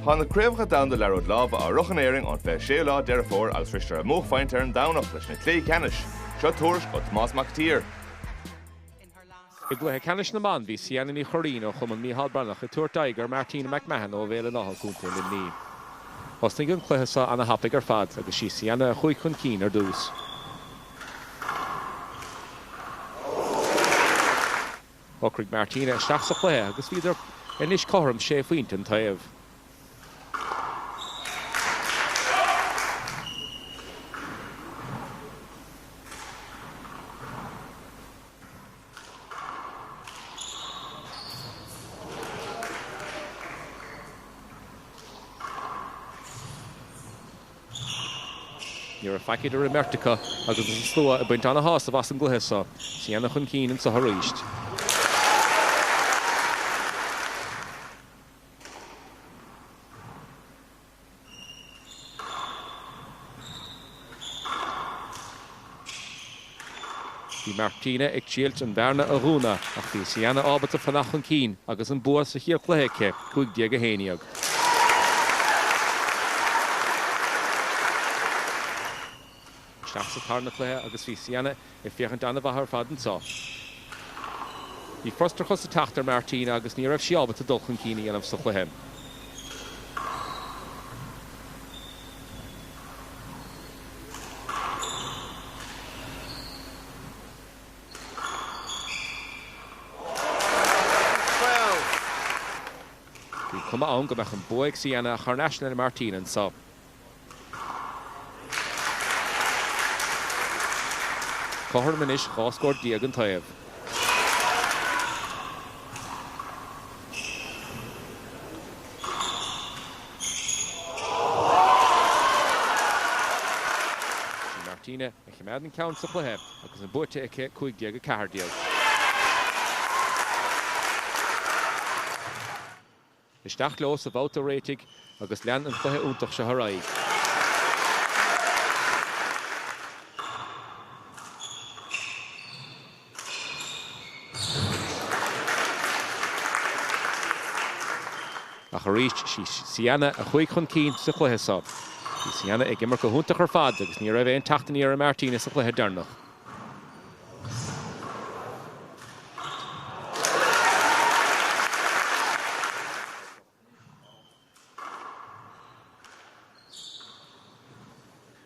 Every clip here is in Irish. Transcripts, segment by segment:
Tá na Craobhacha Domhanda Liathróid Láimhe á reáchtáil in Éirinn ón 26ú lá Deireadh Fómhair agus shroiseadar a mbuaicphointe ar an Domhnach leis na cluichí ceannais. Seo tuairisc ó Thomás Mac an tSaoir. I gcluiche ceannais na mban bhí Ciana Ní Churraoin ó Chumann Micheál Breathnach ag tabhairt aghaidh ar Martina McMahon ó Bhéal an Átha, Co. Luimnigh. Thosnaigh an cluiche seo ana thapaigh ar fad agus sí Ciana a chuaigh chun cinn ar dtús. Shocraigh Martina isteach sa chluiche agus bhíodar anois cothrom sé phointe an taobh. Ní raibh faic idir an mbeirt acu agus an slua ag baint an-shásamh as an gcluiche seo. Ciana chun cinn anseo arís. Bhí Martina ag triailt an bhearna a dhúnadh ach bhí Ciana ábalta fanacht chun cinn agus an bua sa chéad chluiche aici, 15 11. Isteach sa tarna cluiche agus bhí Ciana ag féachaint an-mhaith ar fad anseo. Bhí frustrachas ag teacht ar Martina agus ní raibh sí ábalta dul chun cinn a dhéanamh sa chluiche. Bhí cuma ann go mbeadh an bua ag Ciana ach thar n-ais le Martina anseo. Cothrom anois, dhá scór déag an taobh. Is í Martina a choimeád an ceann sa chluiche agus an buaite aici, 15-14. Isteach leo sa bhabhta réitigh agus lean an cluiche iontach seo ar aghaidh. Ach arís, sí Ciana a chuaigh chun cinn sa chluiche seo. Bhí Ciana ag imirt go hiontach ar fad agus ní raibh aon teacht aniar ag Martina sa chluiche deireanach.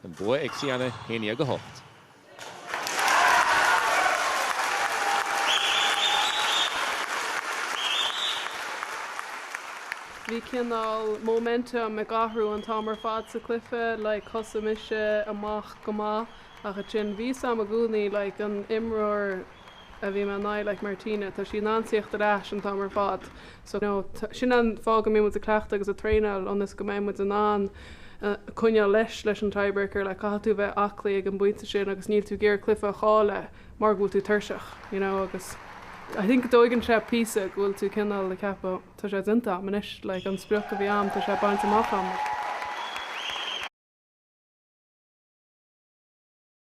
An bua ag Sienna, 11 8. Bhí cineál momentum ag athrú an t-am ar fad sa cluiche, like thosaigh mise amach go maith ach ansin bhí a fhios a'm i gcónaí, like an imreoir a bhí mé in aghaidh like Martina tá sí in ann tíocht ar ais an t-am ar fad so you know sin an fáth go mbíonn muid ag cleachtadh agus ag traenáil ionas go mbeidh muid in ann coinneáil leis leis an tiebreaker like caithfidh tú bheith aclaí ag an bpointe sin agus níl tú ag iarraidh cluiche a chailleadh mar go bhfuil tú tuirseach you know agus I think tógann sé píosa go bhfuil tú cineál ag ceapadh tá sé déanta a'm anois like an sprioc a bhí a'm tá sé bainte amach a'm.